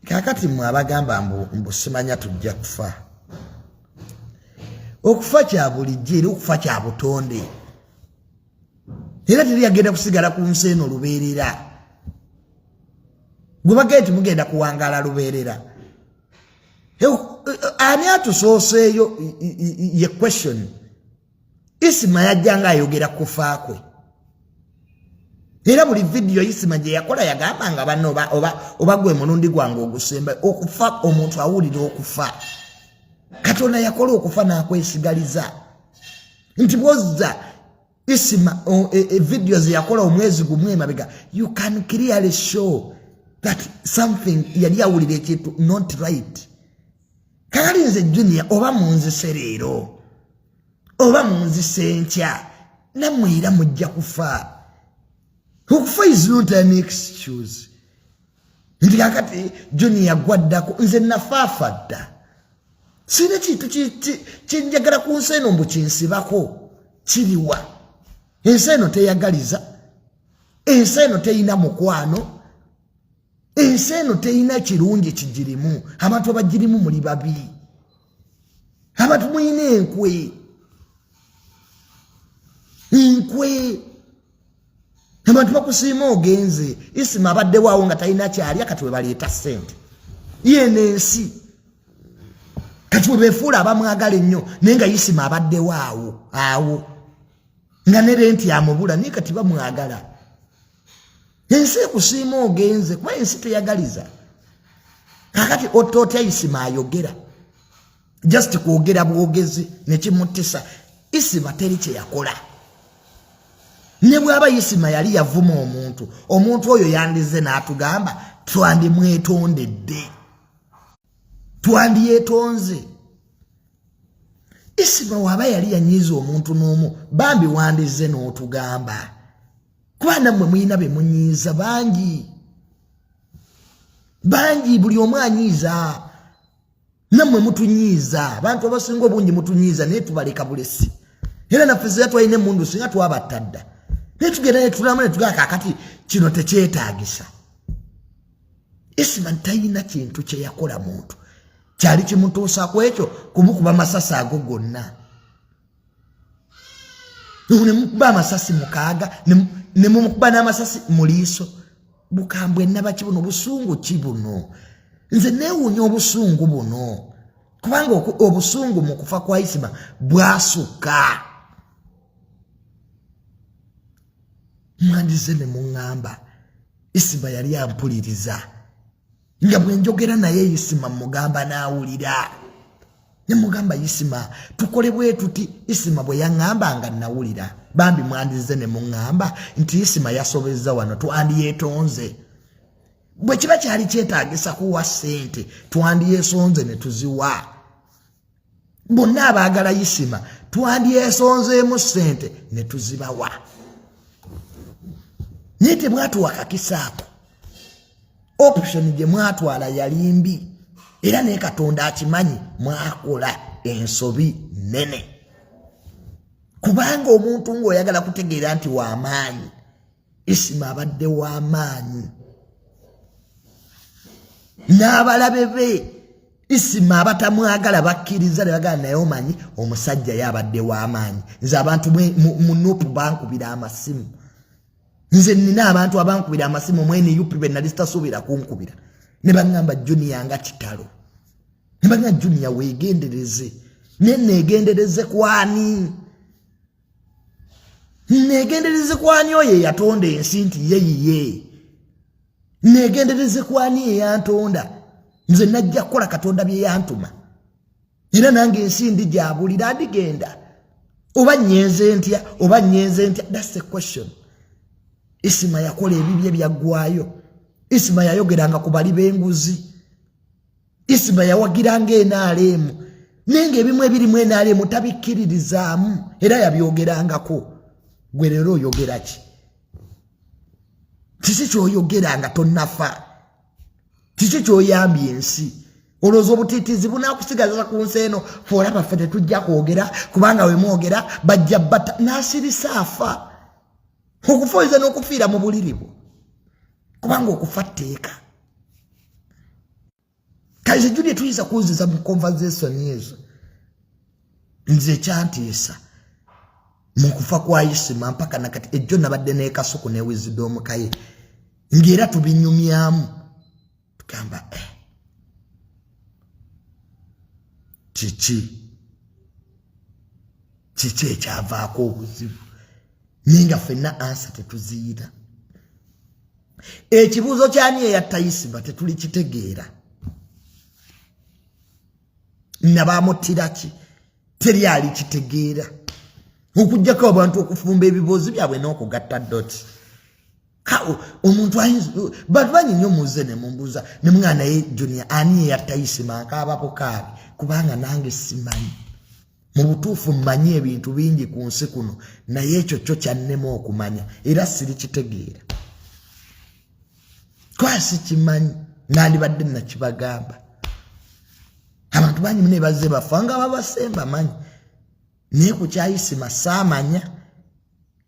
kakati mwe abagamba mbu simanya tujja kufa okufa kya bulijjo era okufa kya butonde era teri yagenda kusigala ku nsi eno lubeerera gwe bagee nti mugenda kuwangaala lubeerera ani atusooseeyo ye question isima yajja nga ayogera kufa kwe era buli vidiyo isima gye yakola yagamba nga banna oba gwe mulundi gwange ogusemba okufa omuntu awulira okufa katonda yakola okufa n'akwesigaliza nti bwozza isima e, e, vidiyo ze yakola omwezi gumu emabega you can clearly show that something yali awulira ekintu not right kaali nze junia oba munzise leero oba munzise nkya namwe era mujja kufa okufa is not an excuse nti kakati junia gwaddako nze nafaafa dda sirina kintu kyenjagala ku nsi eno mbu kinsibako kiriwa ensi eno teyagaliza ensi eno teyina mukwano ensi eno terina kirungi kigirimu abantu abagirimu muli babi abantu mulina enkwe enkwe abantu bakusiima ogenze isima abaddewaawo nga talina kyalya kati webaleeta sente yeno ensi kati webefuula abamwagala ennyo naye nga isima abaddewaawo awo nga ne renti amubula naye kati bamwagala ensi ekusiima ogenze kuba ensi teyagaliza kakati otootya isima ayogera just kwogera bwogezi nekimuttisa isima teri kyeyakola ne bwaba isima yali yavuma omuntu omuntu oyo yandize n'atugamba twandimwetondedde twandyetonze isima waba yali yanyiiza omuntu n'omu bambi wandize n'otugamba kuba nammwe mulina be munyiiza bangi bangi buli omu anyiiza nammwe mutunyiiza abantu abasinga obungi mutunyiiza naye tubaleka bulesi era naffe zira twalina emundu singa twabatta dda naye tugenda netulamu netugaa kakati kino tekyetagisa isiman talina kintu kyeyakola muntu kyali kimutuusa ku ekyo kumukuba masasi ago gonna ne mukuba amasasi mukaaga ne mumukuba n'amasasi mu liiso bukambwe nabaki buno busungu ki buno nze neewuunya obusungu buno kubanga obusungu mu kufa kwa isima bwasukka mwandize ne muŋŋamba isima yali ampuliriza nga bwe njogera naye isima mugamba n'awulira ne mugamba isima tukole bwe tuti isima bwe yaŋŋamba nga nawulira bambi mwandizze ne muŋŋamba nti isima yasobezza wano twandiyetonze bwe kiba kyali kyetaagisa kuwa ssente twandyesonze ne tuziwa bonna abaagala yisima twandyesonzeemu ssente ne tuzibawa naye tebwatuwa kakisaako option gye mwatwala yali mbi era naye katonda akimanyi mwakola ensobi nene kubanga omuntu ng'oyagala kutegeera nti w'amaanyi isima abadde w'amaanyi n'abalabe be isima abatamwagala bakkiriza ne bagala naye omanyi omusajja ye abadde w'amaanyi nze abantu mu nupu bankubira amasimu nze nina abantu abankubira amasimu mwene yupi be nali sitasuubira kunkubira ne baŋŋamba juniya nga kitalo ne baŋŋa juniya weegendereze ne neegendereze kwani negendereze kwani oyo eyatonda ensi nti ye yiye negendereze kwani eyantonda nze najja kukola katonda byeyantuma era nange ensi ndi gyabulira ndigenda oba nyenze ntya oba nyenze ntya thats the question isima yakola ebibye byaggwayo isima yayogeranga ku bali b'enguzi isma yawagiranga enaaleemu naye ngaebimu ebirimu enaaleemu tabikkiririzaamu era yabyogerangako gwe leero oyogera ki kiki kyoyogera nga tonafa kiki kyoyambye ensi olowooza obutiitiizi bunakusigaza ku nsi eno foolaba ffe tetujja kwogera kubanga wemwogera bajja bata nasirisa afa okufa oyinza n'okufiira mu buliri bwo kubanga okufa tteeka kaize juli tuyinza kunziza mu conversation ezo nze ekyantiisa mu kufa kwa isima mpaka nakati ejjo nabadde nekasuku newizidomukaye ngaera tubinyumyamu tugamba eh. kiki kiki ekyavaako obuzibu naye nga fenna ansa tetuziyita ekibuuzo kyani eyatta isiba tetuli kitegeera nabamutiraki teri ali kitegeera okujjako abantu okufumba ebiboozi byabwe n'okugatta doti omuntu ayinza bantu bangi nnyo muze ne mumbuuza ne mwana ye junia ani eyatayisima akaabako kaabi kubanga nange simanyi mu butuufu mmanyi ebintu bingi ku nsi kuno naye ekyo kyo kyannema okumanya era sirikitegeera kwasi kimanyi nandibadde nakibagamba abantu bangi mune bazze bafa nga babasemba manyi naye ku kyayisima saamanya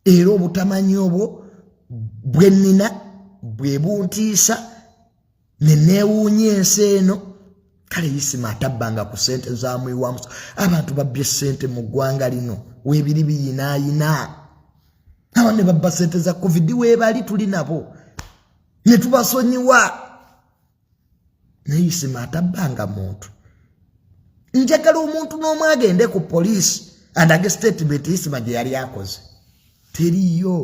era obutamanya obwo bwe nnina bwe buntiisa ne neewuunya ensi eno kale yisima atabbanga ku ssente zamuyiwamuso abantu babbye ssente mu ggwanga lino weebiri biyinaayina aba ne babba ssente za covid weebali tuli nabo ne tubasonyiwa naye isima atabbanga muntu njagala omuntu n'omu agende ku poliisi andage statement isima gye yali akoze teriyo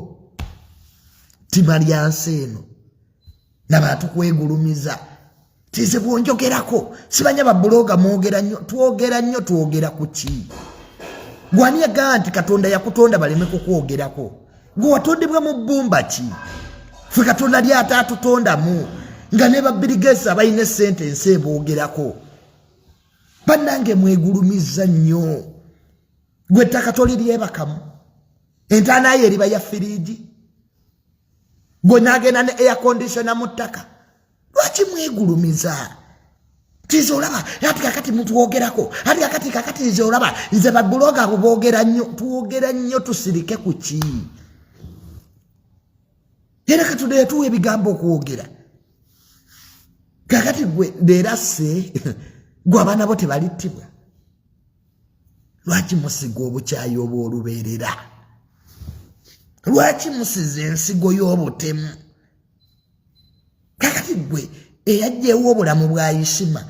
tima lya nsi eno nabantu kwegulumiza tize bwonjogerako sibanya babuloga mwogera nnyo twogera nnyo twogera ku ki gwani yagaa nti katonda yakutonda baleme kukwogerako gwe watondebwa mu bbumba ki fe katonda ly ate atutondamu nga ne babirigesi abalina esente ensi eboogerako bannange mwegulumiza nnyo gwe ettaka toliryebakamu entaanayo eriba ya firiigi gwe naagenda ne air conditiona mu ttaka lwaki mwegulumiza tiza olaba ati kakati mutwogerako ati kakati kakati nze olaba nze babuloga abo bogera nnyo twogera nnyo tusirike ku ki era katudeyo tuwa ebigambo okwogera kakati gwe leerase gwe abaana bo tebalittibwa lwaki musiga obukyayi obw'olubeerera lwaki musiza ensigo y'obutemu kakati gwe eyajjewo obulamu bwa isima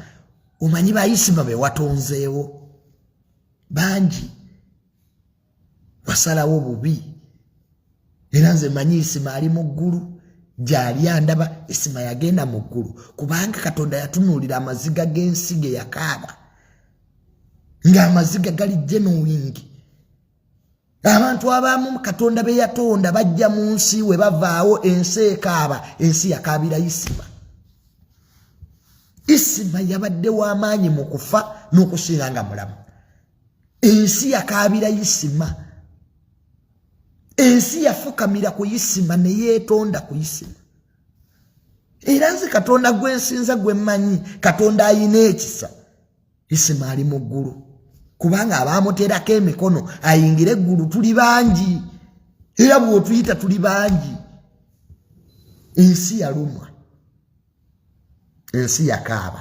omanyi ba isima bewatonzeewo bangi wasalawo bubi era nze manyi isima ali mu ggulu gyali andaba isima yagenda mu ggulu kubanga katonda yatunuulira amaziga g'ensi ge yakaaba ng'amaziga gali jenowingi abantu abamu katonda be yatonda bajja mu nsi we bavaawo ensi ekaaba ensi yakaabira isima isima yabadde w'amaanyi mu kufa n'okusinga nga mulamu ensi yakaabira isima ensi yafukamira ku isima ne yeetonda ku isima era nze katonda gwensinza gwe mmanyi katonda ayina ekisa isima ali mu ggulu kubanga abaamuteerako emikono ayingire eggulu tuli bangi era bw'otuyita tuli bangi ensi yalumwa ensi yakaaba